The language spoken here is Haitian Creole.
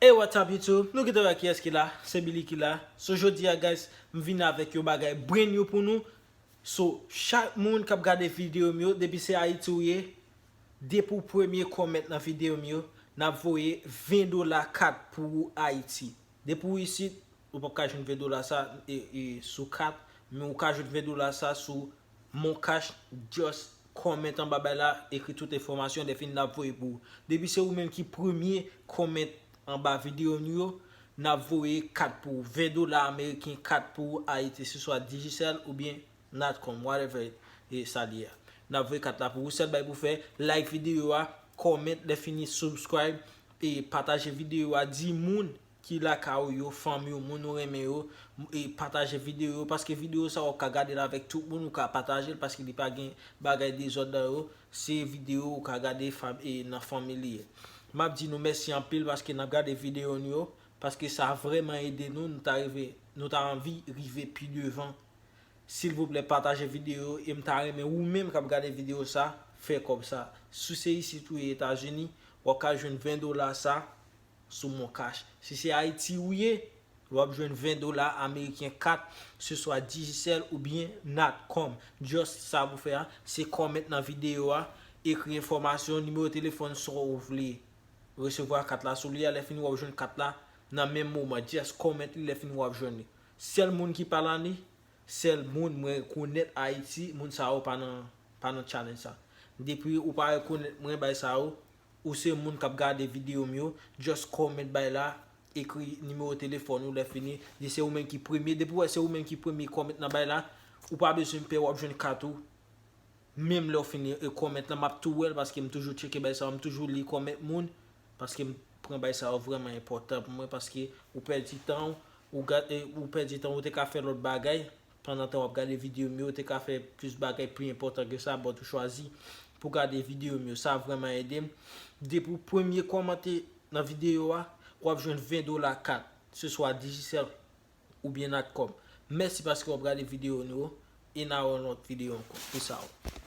Hey what's up YouTube, nou kite wè kiyès ki la, se Billy ki la, so jodi a guys m vin avèk yon bagay brand new pou nou, so chak moun kap gade video m yo depi se Ayiti ou ye, depi w premye comment nan video m yo, nap voye 20 dola kat pou ou Ayiti, depi w isit Ou pap ka jwenn 20 dola sa sou kat, men ou ka jwenn 20 dola sa sou moncash just comment anba bay la ekri tout enfòmasyon dèfini nap voye pou ou. Depi se ou menm ki premye comment anba video nou yo nap voye kat pou ou 20 dola ameriken kat pou ou ayiti se swa digicel oubyen natcom whatever e sa li a nap voye kat la pou ou sèl bagay pou fè like video a comment lè fini subscribe e pataje video a di moun ki lakay ou yo, fanmi ou, moun ou renmen yo, e pataje video yo, paske video sa ou ka gadel avèk tout moun, ou ka patajel paske li pa gen bagay dezòd nan yo, se video ou ka gade nan fanmi li ye. Map di nou mèsi anpil paske nap gade video nou yo, paske sa vrèman ede nou, nou ta rive, nou ta anvi rive pi devan. Silvouplè pataje video yo, em ta renmen ou menm kap gade video sa, fè kòb sa. Si se isit ou ye Etazini, wap ka jwenn 20 dola sa, sou moncash si se ayiti ou ye wap jwenn 20 dola ameriken kat se swa digicel ou byen natcom just sa pou fè a se comment nan video a ekri enfòmasyon nimewo telefòn sa ou vle resevwa kat la sou li a lè fini wap jwenn kat la nan menm moman just comment li lè fini wap jwenn li sèl moun ki pa la ni sèl moun mwen rekonèt ayiti moun sa yo pa nan pa nan challenge sa depi ou pa rekonèt mwen bay sa yo. Ou se moun kap gade video m yo just comment bay la ekri nimewo telefòn ou lè fini di se ou menm ki premye depi w wè se ou menm ki premye comment nan bay la ou pa bezwen pè wap jwenn kat ou menm lèw fin comment lan map tou wèl paske m toujou tcheke bay sa yo m toujou li comment moun paske m pran bay sa yo vrèman enpòtan pou mwen paske ou pèdi tan ou ou pèdi tan ou te ka fè lòt bagay Pandan tan wap gade video m yo ou te ka fè plis bagay pli enpòtan ke sa but ou chwazi pou gade video m yo sa vrèman edem depi ou premye kòmante nan video a wap jwenn 20 dola kat se swa Digicel oubyen Natcom mèsi paske wap gade video nou yo e na wè yon lòt video ankò peace out.